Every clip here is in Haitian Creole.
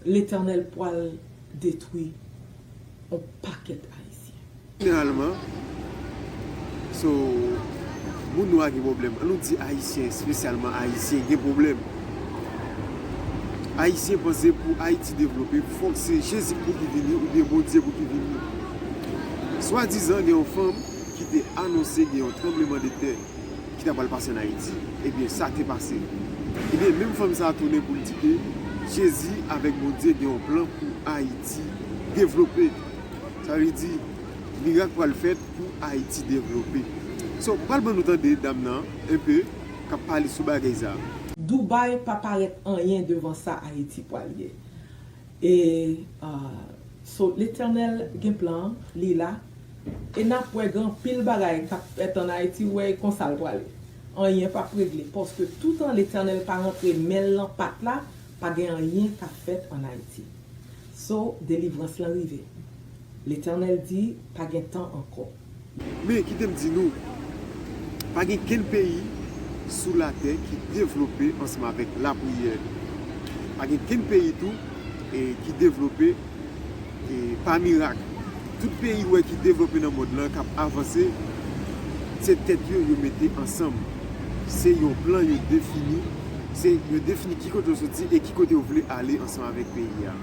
Letènèl pwal detwi on pakèt ayisyen. Jeneralman so moun nwa gen pwoblèm an nou di ayisyen espesyalman ayisyen gen pwoblèm ayisyen panse pou ayiti devlope fòk se jezi pou ki vini oubyen bondye pou ki vini swadizan gen yon fanm ki te anonse gen yon tranbleman de tè. ki ta pral pase an Ayiti, ebyen sa te pase. Ebyen menm fanm sa tounen pou l di ke Jezi avèk Bondye gen yon plan pou Ayiti devlope. Sa vle di mirak pral fèt pou Ayiti devlope. So m pral ban nou tande dam nan un peu k ap pale sou bagay sa. Dubai pa parèt anyen devan sa Ayiti pral ye. E so letènèl gen plan li la e nap wè gen anpil bagay kap fèt an ayiti wè e konsal prale anyen pap regle paske toutan letènèl pa rantre menl nan pat la pa gen anyen kap fèt an ayiti so delivrans lan rive letènèl di pa gen tan ankò. Men, kite m di nou, pa gen kenn peyi sou latè ki devlope ansanm avèk lapriyè. Pa gen kenn peyi tou ki devlope pa mirak. Tout peyi ou wè ki devlope nan mond lan, k ap avanse, se tèt yo yo mete ansanm. Se yon plan yo defini, se yo defini ki kote yo soti e ki kote yo vle ale ansanm avèk peyi a.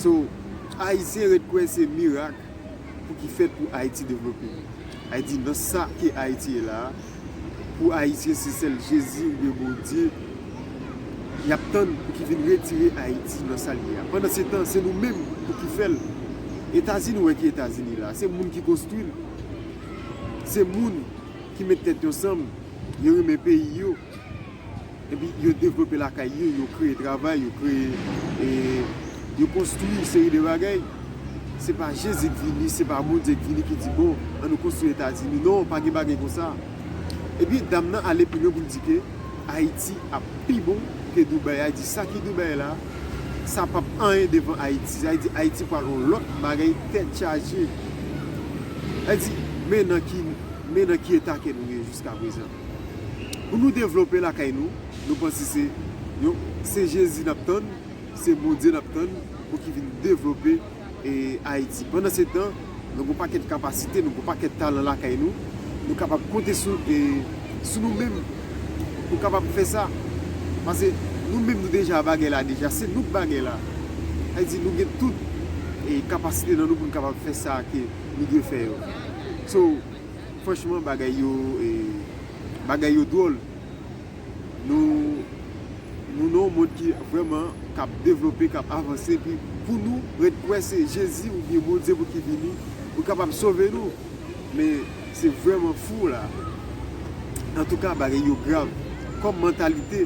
So, Ayisyen ret kwè se mirak. pou ki fèt pou Ayiti devlope. Li di nan sa ke Ayiti ye la a, pou Ayisyen se sèl Jezi oubyen Bondye y ap tann pou ki vin retire Ayiti nan sa l ye a. Pandan se tan, se nou menm pou ki fè l. Etazini, ou wè ki Etazini la a, se moun ki konstwi l. Se moun ki met tèt yo ansanm, yo renmen peyi yo. epi yo devlope lakay yo, yo kreye travay, yo kreye, yo konstwi yon seri de bagay, se pa Jezi ki vini, se pa Bondye ki vini ki di bon, an nou konstwi Etazini, non, pa gen bagay konsa. Epi dam nan ale pi lwen pou l di ke Ayiti ap pi bon ke Doubèy a, li di sa ki Doubèy la, sa pap anyen devan Ayiti, sa vle di Ayiti pral yon lòt bagay tèt chaje. Sa vle di, men nan ki, men nan ki eta ke nou ye jiska prezan. Pou nou devlope lakay nou, nou panse se yon se Jezi nap tann, se Bondye nap tann pou ki vin devlope Ayiti. Pandan se tan, nou gen yon pakèt kapasite, nou gen yon pakèt talan lakay nou, nou kapab konte sou nou menm pou kapab fè sa. Pase nou menm nou deja bagay la deja, se nou k bagay la. Sa vle di nou gen tout kapasite nan nou pou nou kapab fè sa ke nou dwe fè yo. So, Franchman bagay yo bagay yo dwol nou nou nan yon mond ki vreman kap devlope kap avanse epi pou nou ret kwè se jezi oubyen bondye pou ki vini pou kapab sove nou men se vreman fou la antouka bagay yo grav kom mantalite.